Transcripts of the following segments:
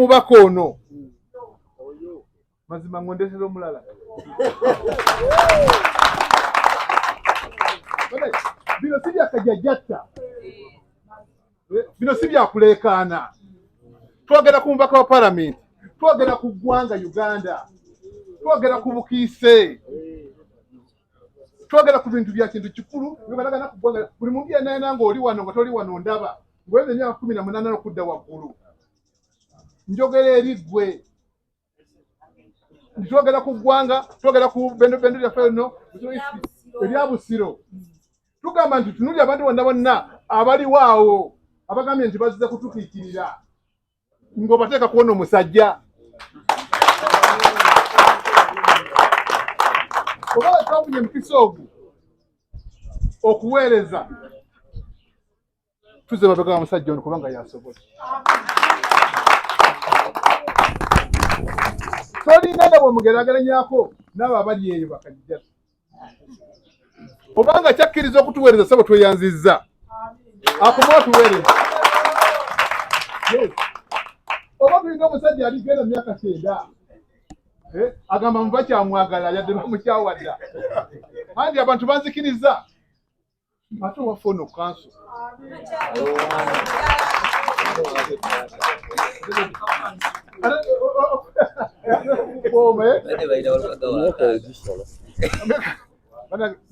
mubaka ono mazima ngondesera omulala bino si byakajajjatta bino si byakuleekaana twogera ku mubaka wa palamenti twogera ku ggwanga uganda twogera ku bukiise twogera ku bintu bya kintu kikulu byogalagana ku ggwanga buli muntu yenayena nga oli wano nga toli wano ndaba ngweze emyaka kumi na munana okudda waggulu njogera eri ggwe twogera ku ggwanga twogera ku bendo bendo lyaffe lino erya busiro tugamba nti tunuli abantu bonna bonna abaliwo awo abagambye nti baziza kutukiikirira ng'obateeka kuona omusajja oba wetwafunye empisa ogu okuweereza tuze mabega wa musajja ono kubanga yasobola tolinga nga bwemugerageranyako naabo abali eyo bakajja obanga kyakkiriza okutuweereza sabo tweyanzizza akuma otuweereza oba tulinga omusajja aligenda myaka kyenda eh, agamba muba kyamwagala yadde bamukyawadda andi abantu banzikiriza ate waffe ono kanso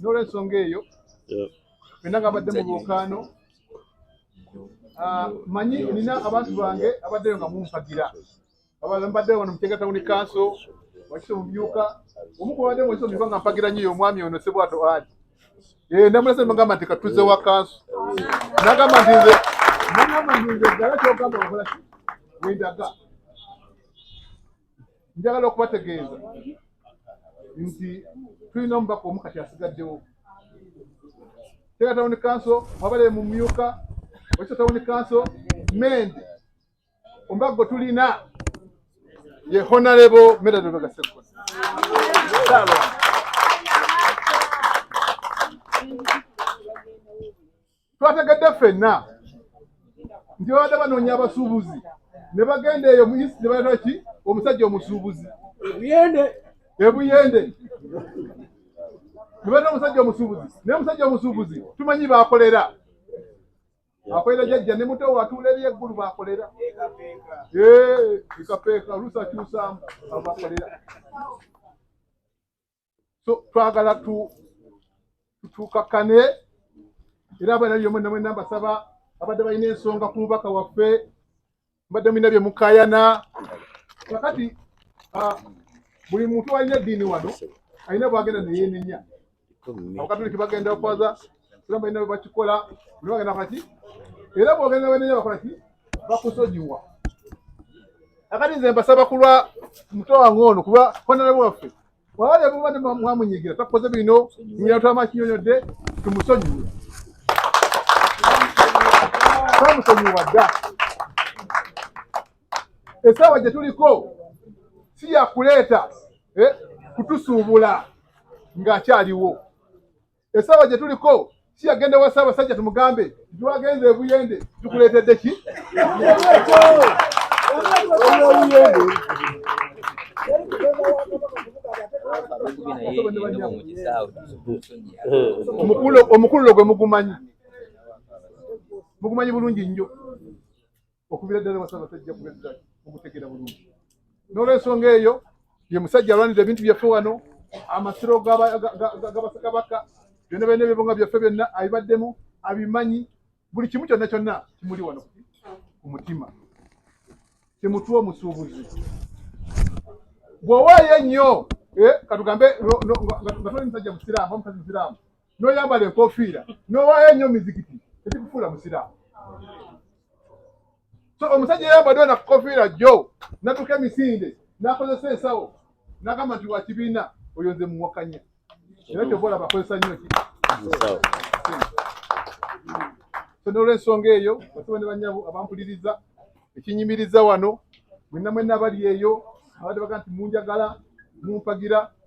nolwensonga eyo fena nga badde mu bukaano ah, manyi nina abantu bange abaddeyo nga mumpagira abala mbadde wano mutenga tawuni kanso wakise mumyuka omu kubadde mwese omyuka nga mpagira nyiyo omwami ono sebwato ali eh, namulese mugamba nti katuze wa kanso nagamba nti nze nagamba nti nze ddala kyogamba okola wendaga njagala okubategeeza nti tulina omubaka omu kati asigaddewo tega tawuni kanso wabale mumyuka wakise tawuni kanso mende Ombago tulina ye Honorable Medard Lubega Sseggona. Twategedde ffenna nti babadde banoonya abasuubuzi ne bagenda eyo mu East ne baleta ki omusajja omusuubuzi ebuyende ebuyende ne baleta omusajja omusuubuzi naye omusajja omusuubuzi tumanyi baakolera akolera jajja ne muto watuula eri eggulu bakolera ekapeeka oluusi akyusaamu abakolera so twagala tutuukakane era abana byomwe namwe nambasaba abadde balina ensonga ku mubaka waffe mbadde mulina bye mukayana kakati ah, buli muntu alina eddiini wano alina bwagenda neyenenya abakatuliki bagenda kwaza era balina bwebakikola buli bagenda kaki era bwogenda wenenya bakola ki bakusonyiwa akati nze mbasaba kulwa muto wange ono kuba honarebo waffe wabale mubadde mwamunyigira takoze bino nyinatwama kinyonyodde tumusonyiwe tamusonyiwa dda esaawa gye tuliko si yakuleeta eh, kutusuubula ng'akyaliwo essaawa gye tuliko si yagenda wa ssaabasajja tumugambe titwagenze ebuyende tukuleetedde ki omukululo gwe mugumanyi mugumanyi bulungi nnyo okubira ddala wasabasajja kubezza okutegera bulungi n'olwensonga eyo ye musajja alwanirira ebintu byaffe wano amasiro gabasakabaka byonna byonna ebibonga byaffe byonna abibaddemu abimanyi buli kimu kyonna kyonna kimuli wano ku mutima temutuwa omusuubuzi bw'owaayo ennyo eh, katugambe nga toli musajja musiraamu omukazi musiraamu n'oyambala enkofiira n'owaayo ennyo mizikiti tekikufuula musiraamu so omusajja eyambadde ona kukofiira jjo natuka emisinde nakozesa ensawo nagamba nti wakibiina oyo nze muwakanya era kyova olaba akozesa nnyo ki so n'olwensonga eyo basaba ne banyabo abampuliriza ekinyimiriza wano mwenna mwenna abali eyo abadde baga nti munjagala mumpagira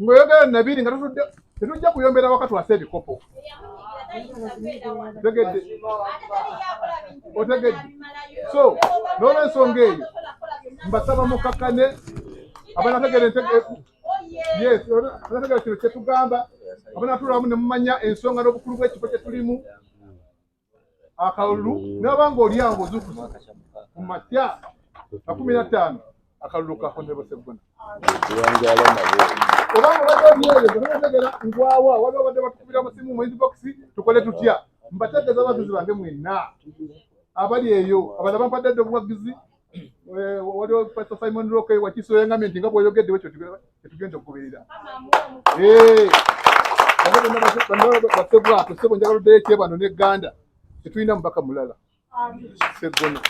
Ngoyogera nabiri nga tutudde tetujja kuyombera waka twase ebikopo. Otegedde. Otegedde. So, n'olwensonga eyo mbasaba mukakkane abanategera yes abanategera kino kyetugamba abanatulamu ne mumanya ensonga n'obukulu bw'ekifo kye tulimu akalulu naba nga oli awo ozukusa ku makya makumi na ttaano akalulu ka honorable seggona obanga obadde olyeyo ganategera ngwawa wali obadde batukubira musimu mu inbox tukole tutya mbategeeza abaguzi bange mwenna abali eyo abala bampadde dde obuwagizi Eh, waliwo pastor simon rock eh, wakiso yangambye nti nga bwoyogedde wekyo tetugenda okugoberera eh, basebwato sebo njagala oddeyo ekyebano ne ganda tetulina mubaka mulala segono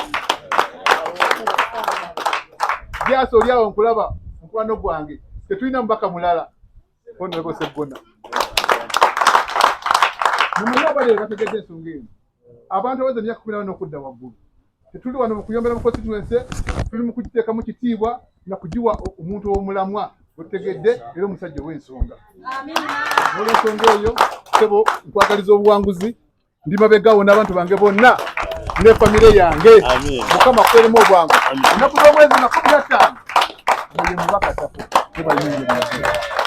jasi oli awo nkulaba mukwano gwange tetulina mubaka mulala onoebo segona mumulabalero bategedde ensonga eno Abantu abaweza emyaka kumi na bana okudda waggulu, tetuli wano mu kuyombera mu konsituwense, tuli mu kugiteekamu kitiibwa na kugiwa omuntu ow'omulamwa otegedde era omusajja ow'ensonga. Olw'ensonga eyo, ssebo nkwagaliza obuwanguzi, ndi mabegawo n'abantu bange bonna ne famire yange. Mukama kweremu obwangu ennaku z'omwezi nga kumi na ttaano. Mubaka Tafo,